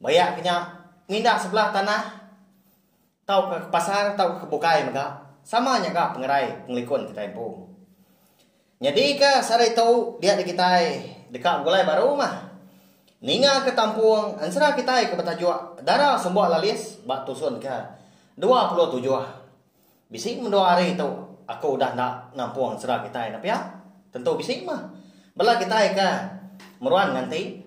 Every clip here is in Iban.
Maya ke nya, pengindah sebelah tanah tauka ke pasar tauka ke bukai mega sama nya ga pengerai pengelikun kitai empu. Nyadika sehari tu diatu kitai deka begulai baru mah. Ningaka tampung ensera kitai ke betajuk Dara Sumba Lalis ba tusun ke dua puluh tujuh. Bisi mendua hari tu aku udah enda nampung sera kitai dah pia. Tentu bisi mah. Bela kitai ke meruan nganti.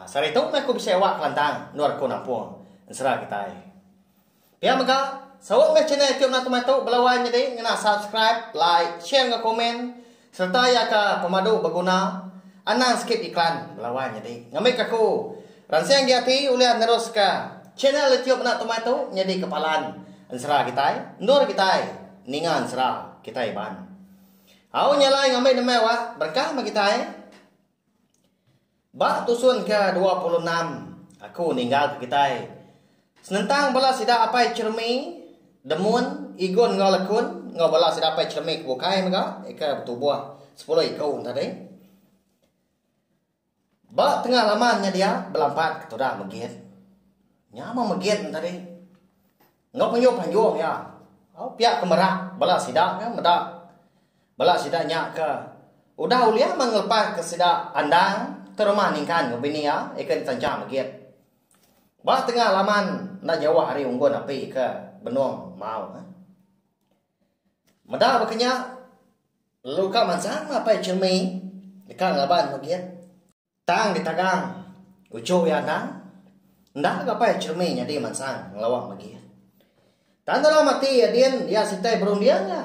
Sehari tu meh aku bisi awak kelantang endor aku nampung ensera kitai. Pia mega, saut meh channel youtube Natu Matu bela wai nyadi ngena subscribe, like, share enggau komen. Sereta iya ka pemadu beguna anang sikit iklan belawan nyadi ngambika aku ransing agi ati ulih neruska channel YouTube Anak Tumai tu nyadi kepalan ensera kitai endur kitai ninga ensera kitai Iban. Au nya alai ngambi nembiak wak berkah meh kitai. Ba tusun ke dua puluh enam aku ninggal ke kitai. Senentang bala sida apai Chermi, Demun, Igun enggau Lekun enggau bala sida apai Chermi ke bukai mega ke betubuh sepuluh iku enda deh. Ba tengah laman nya dia belampat ke tuda Megit. Nya mah Megit enda deh. Enggau pengunjung pengunjung iya. Pia ke merak bala sida nya meda bala sida nya ke udah ulih meh ngelepaska sida andang ke rumah Ningkan enggau bini iya iken ditencha megit ba tengah laman enda jauh ari unggun api ke benung Mau. Meda baka nya lalu ka mansang mapai cermin deka ngaban megit. Tang ditagang, uchu iya endang. Enda ga pai Chermi nyadi mansang ngelawang bagi. Tang dalam ati iya din iya sitai berunding ga.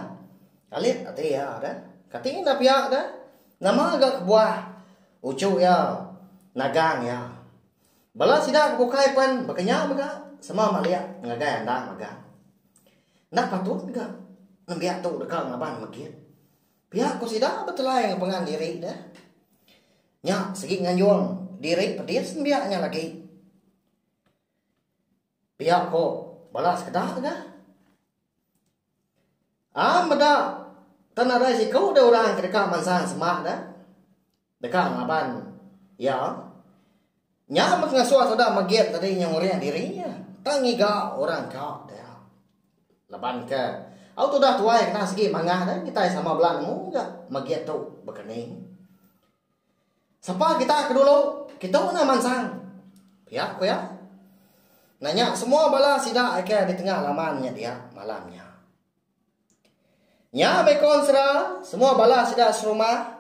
Kalit ati iya ga. Kati enda pia ga. Nama ga kebuah uchu iya nagang iya. Bala sida ke bukai pen baka nya mega sama malik ngagai endang magang. Enda patut ga nembiak tu deka ngaban megit. Pia ku sida betelai ngepengan diri deh. Nya segi nganjung diri pedis nembiak nya lagi. Pia ko bala sekeda ga. Am meda tenadai siku deh orang ke deka mansang semak deh. Deka ngaban iya nya mengasuh sida megit tadi nyengurih diri iya tang ngiga orang ka dia. Laban ke au tudah tuai kena sigi mangah deh kitai sama bala nemu ga megit tu bekening. Sapa kita ke dulu kitu enda mansang pia ku iya. Nanya semua bala sida ke ditengah laman nya dia malam nya. Nya meh ko ensera, semua bala sida serumah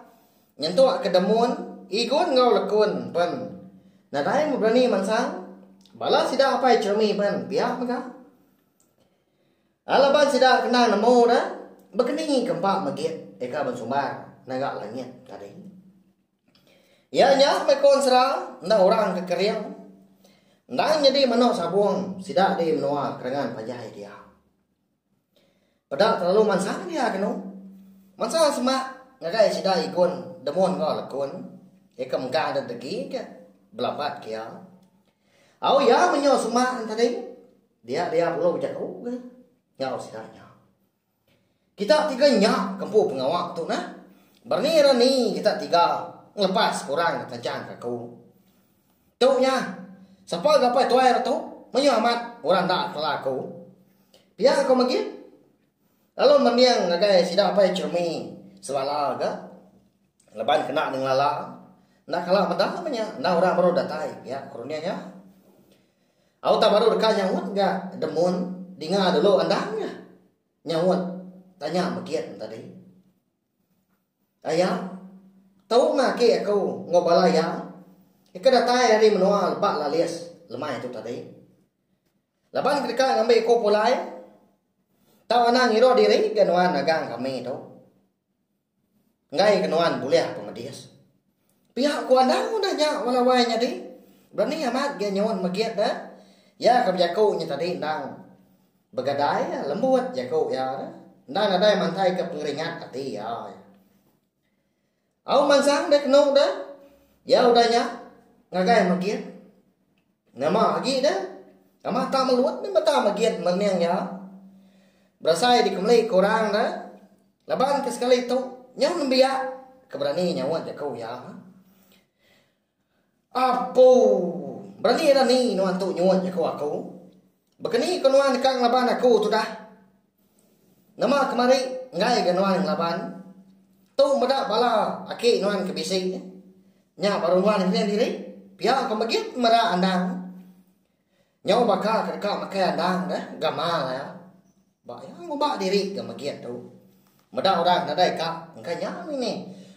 nyentuk ke demun Igun enggau Lekun pen. Nadai meh berani mansang. Bala sida apai Cheremy pen pia mega. Laban sida kena nemu ne bekeni ke empa megit eka bensumbar ngaga langit tadi. Iya nya meh ko ensera enda orang ke kering endang nyadi meno sabong sida di menua kerengan panjai dia. Peda kelalu mansang dia kenu. Mansa semak ngagai sida igun demun enggau lekun ika megang da degi ke belabat ke iya. Au iya menyau semak enti tadi dia dia bulu jaku ke enggau sida nya. Kita tiga nya ke empu pengawa tu nah. Berani rani kita tiga ngelepas orang ke tancang ke aku. Tu nya, sapa gapai tuai re tu mayuh amat orang enda kela aku. Pia aku megi lalu mending ngagai sida apai Chirmi selala ga leban kena ne ngelala enda kala meda meh nya enda orang baru datai pia ku runding nya. Au tak baru deka nyaut ga Demun dinga dulu endang nya nyaut tanya begit tadi. Aya, tau ma agi aku enggau bala iya ke ke datai ari menua lebak lalis lemai tu tadi. Laban ke deka ngambi aku pulai tau anang ngiruh diri ke nuan nagang kami tu. Enggai ke nuan bulih pemedis. Pia ku anang udah nya lawai nyadi berani amat gia nyuan megit ne iya ke bejaku nya tadi endang begadai lembut jaku iya tu enda nadai mantai ke pengeringat ati iya au mansang deh kenu deh iya udah nya ngagai megit. Nama agi ne? Nama tak melut ne meda megit mening nya? Berasai dikemeli ke orang ne, laban ke sekali tu nyau nembiak ke berani nyaut jaku iya. Apu! Berani rani nuan tu nyuut jaku aku. Baka ni ko nuan deka ngelaban aku tudah? Nama kemari enggai ga nuan ngelaban? Tu meda bala aki nuan ke bisi. Nya baru nuan ngening diri? Pia ko megit mera andang. Nyau baka ke deka makai andang deh ga mal iya. Ba iya ngubah diri ga megit tu. Meda orang nadai ka engka nya mih ni.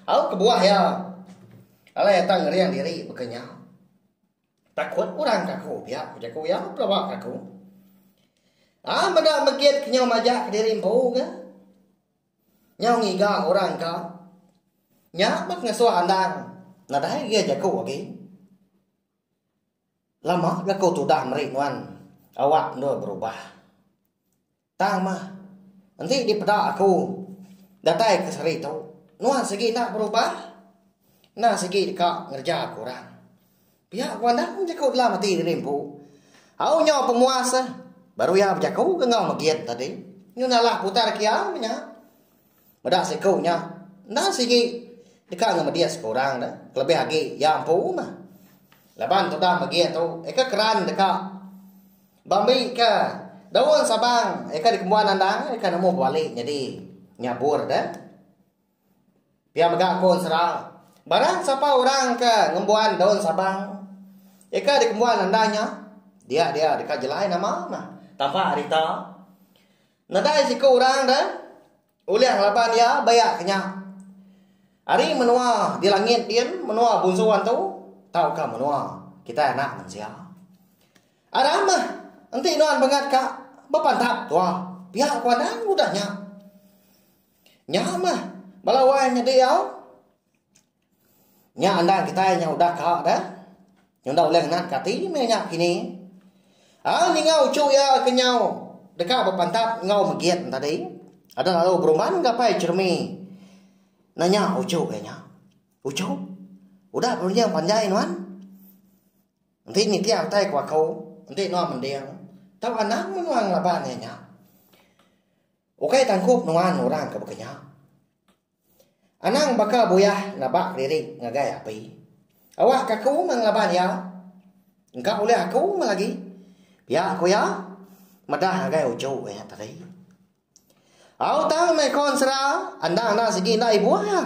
Au kebuah iya. Alai atai ngering diri baka nya. Takut orang ke aku biak ku jaku iya pelawa ke aku. Ai meda megit ke nyau majak kediri empu ke. Nyau ngiga orang ka. Nya bah ngesuh andang nadai agi jaku agi. Lama ga aku tudah meri nuan awak endur berubah. Tang mah. Enti dipeda aku datai ke sehari tu nuan sigi enda berubah enda sigi deka ngereja ku orang. Pia ku anang bejaku dalam ati diri empu. Au nyau pemuas baru iya bejaku ke enggau Megiet tadi. Nyun alah putar ke iya meh nya. Meda siku nya, enda sigi deka ngemedis ke orang dah, kelebih agi iya empu mah. Laban tudah megi tu, eka keran deka ba mbi ke daun sabang eka dikembuan andang eka nemu bebali nyadi nyabur dah. Pia mega ku ensera, barang sapa orang ke ngembuan daun sabang eka dikembuan andang nya, dia dia deka jelai nama mah. Tambah ari ita, Nadai siku orang da ulih ngelaban iya baya ke nya. Ari menua di langit din menua bunsu antu tauka menua kitai anak mensia. Aram meh enti nuan bengat ka bepantap tuah pia ku anang udah nya. Nya meh bala wai nyadi au. Nya andan kitai nya udah ka dah. Nya udah ulih ngenat ka ati meh nya kini. Ai ninga uchu iya ke nyau deka bepantap enggau megit ne tadi. Aduh lalu berumban gapai jerumi nanya uchu iya nya. Uchu, udah ke ngereja panjai nuan? Enti nitih utai ku aku, enti nuan mending, tau anang meh nuan ngelaban iya nya. Ukai tangkup nuan orang ke baka nya. Anang baka buyah nabak kelirik ngagai api. Awak ke aku meh ngelaban iya. Engka ulih aku meh lagi. Pia ku iya madah ngagai uchu iya tadi. Au tang meh kon sera endang enda sigi enda ibuh iya.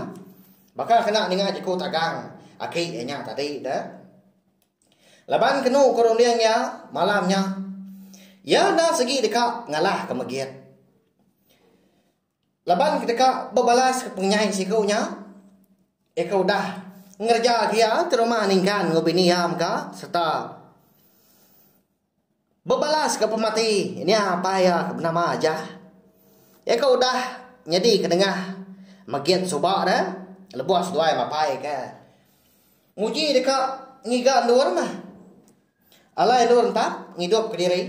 Baka kena ninga jeku tagang aki iya nya tadi deh. Laban kenu ke runding iya malam nya iya enda sigi deka ngalah ke megit. Laban ke deka bebalaska pengenyai siku nya, eka udah ngereja agi iya ke rumah ninggan enggau bini iya mega sereta bebalaska pemati nya apai iya ke benama Jah. Iya ke udah nyadi kendengah megit suba ne lebuh seduai mapai ke nguji deka ngiga endur neh. Alai endur entap ngidup ke diri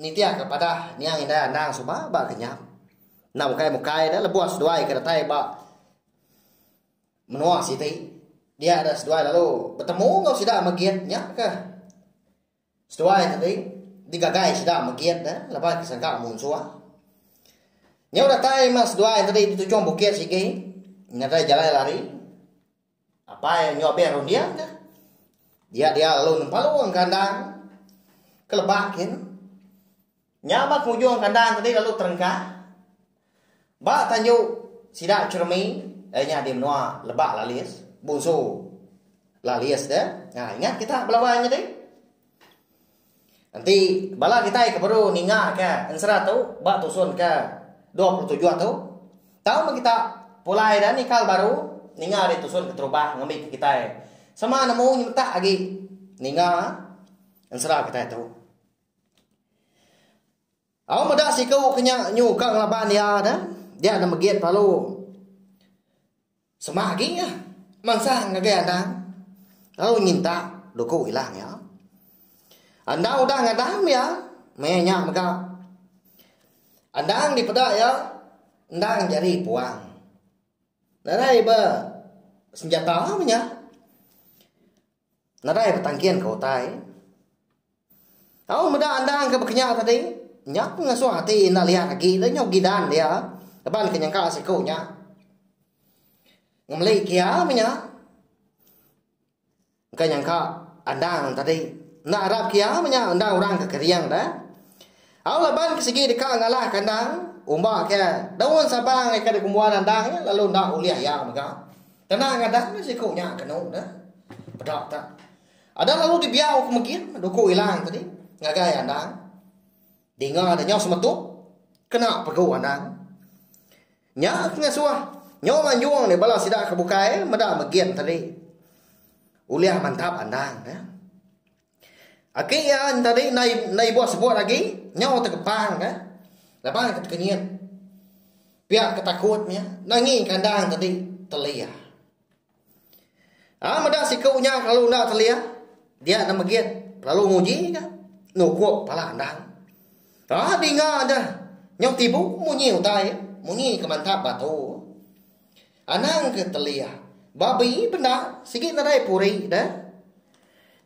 nitih ke padah niang indai andang suba ba kenyam enda ukai mukai da lebuh seduai ke datai ba menua siti dia da seduai lalu betemu enggau sida megit nya ke seduai tadi digagai sida megit ne laban ke sangka munsuh nyau datai meh seduai tadi di tujung bukit sigi nadai jalai lari. Apai enggau abih runding ka. Dia dia lalu nempalung kandang ke lebak kin. Nya ba penghujung kandang tadi lalu terengkah. Ba tanju sida Chermi eh nya di menua Lebak Lalis, Bunsu Lalis dia. Ha ingat kita belawan tadi. Enti bala kitai ke baru ninga ka ensera tu ba tusun ke dua puluh tujuh tu tau meh kita pulai ida ni kal baru ninga ari tusun ke terubah ngambi ke kitai sama nemu nyemetak agi ninga ensera kitai tu. Au meda siku ke nya nyu ka ngelaban iya da dia enda megit lalu sema agi nya mansang ngagai anang lalu nyinta duku ilang iya. Andang udah ngadam iya meh nya mega andang dipeda iya endang nyadi puang. Nadai ba senjata meh nya. Nadai betangkin ke utai. Tau meda andang ke bekenya tadi, nya pun ngasuh ati enda liat agi le nyau gidan dia laban ke nyengka siku nya. Ngemeli kia meh nya. Engka nyangka andang tadi. Enda arap kia meh nya andang orang ke kering deh. Au laban ke sigi deka ngalah ke andang, umba ke daun sabang ke dikumbuan andang nya lalu enda ulih iya mega. Kena ngadan meh siku nya kenu ne. Peda ta. Ada lalu dibiau ke megi duku ilang tadi ngagai anang. Dinga ne nyau semetuk kena pegu anang. Nya pengasuh nyau manjung nih bala sida ke bukai meda megi tadi. Ulih mantap anang ne. Agi iya entadi endai endai ibuh sebut agi nyau tegepang ka laban ka tekenyit pia ka takut nya nangi kandang tadi telih. Aaa meda siku nya lalu enda telih dia ne megit lalu nguji ka nukup pala endang aaa dinga deh nyau tibu munyi utai munyi ke mantap batu. Anang ke Teliah. Babi bendar sigi nedai puri deh.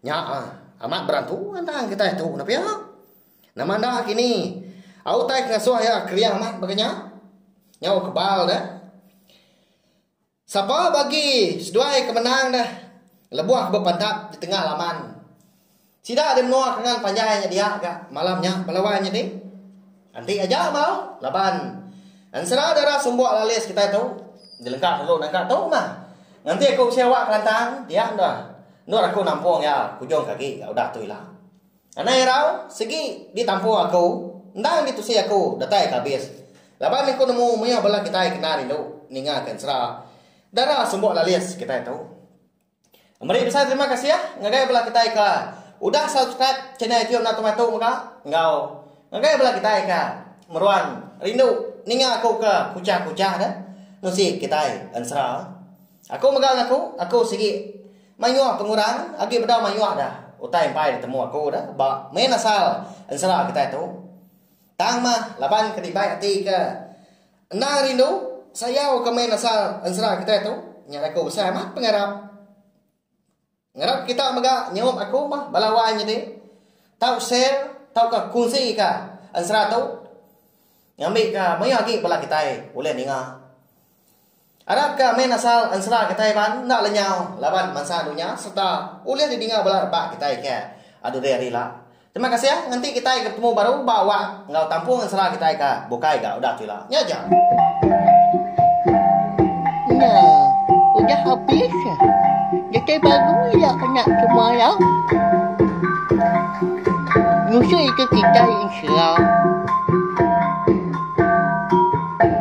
Nya ah, amat berantu anang ke tai tu nah pia. Nama enda kini au tai ngasuh iya keria amat baka nya. Nyau kebal deh. Sapa bagi seduai ke menang deh lebuh bepantap di tengah laman. Sida di menua Kengan Panjai nya dia ga malam nya bala wai nyadi anti aja mauh laban ensera dara sumbok lalis kitai tu jelengka sulu nengka tu mah nganti aku bisi awak kelantang dia enda endor aku nampung iya ke ujung kagi ga udah tu ila. Anai irau segi di tampung aku endang di tusi aku datai ka abis laban aku nemu mioh bala kitai kena rindu ninga ka ensera dara sumbok lalis kitai tu. Meri besai terima kasih ngagai bala kitai ke udah subscribe channel YouTube Natu Matu mega enggau ngagai bala kitai ke meruan rindu ninga aku ke kuchah-kuchah deh nusi kitai ensera. Aku mega ngaku aku sigi mayuh pengurang agi bedau mayuh dah utai empai ditemu aku deh ba main asal ensera kitai tu. Tang mah laban ke dibai ati ke Endang rindu, sayau ke main asal ensera kitai tu nya daku besai amat pengarap. Ngarap kita mega nyaup aku mah bala wai nyadi tau share tauka kunsi ka ensera tu ngambika maya agi bala kitai ulih ninga. Arap ke amin asal ensera kitai Iban enda lenyau laban mansa dunya sereta ulih didinga bala rebak kitai ke adu rare ila. Terima kasih ngenti kitai ke betemu baru ba wak enggau tampung ensera kitai ka bukai ga udah tu ila. Nya aja.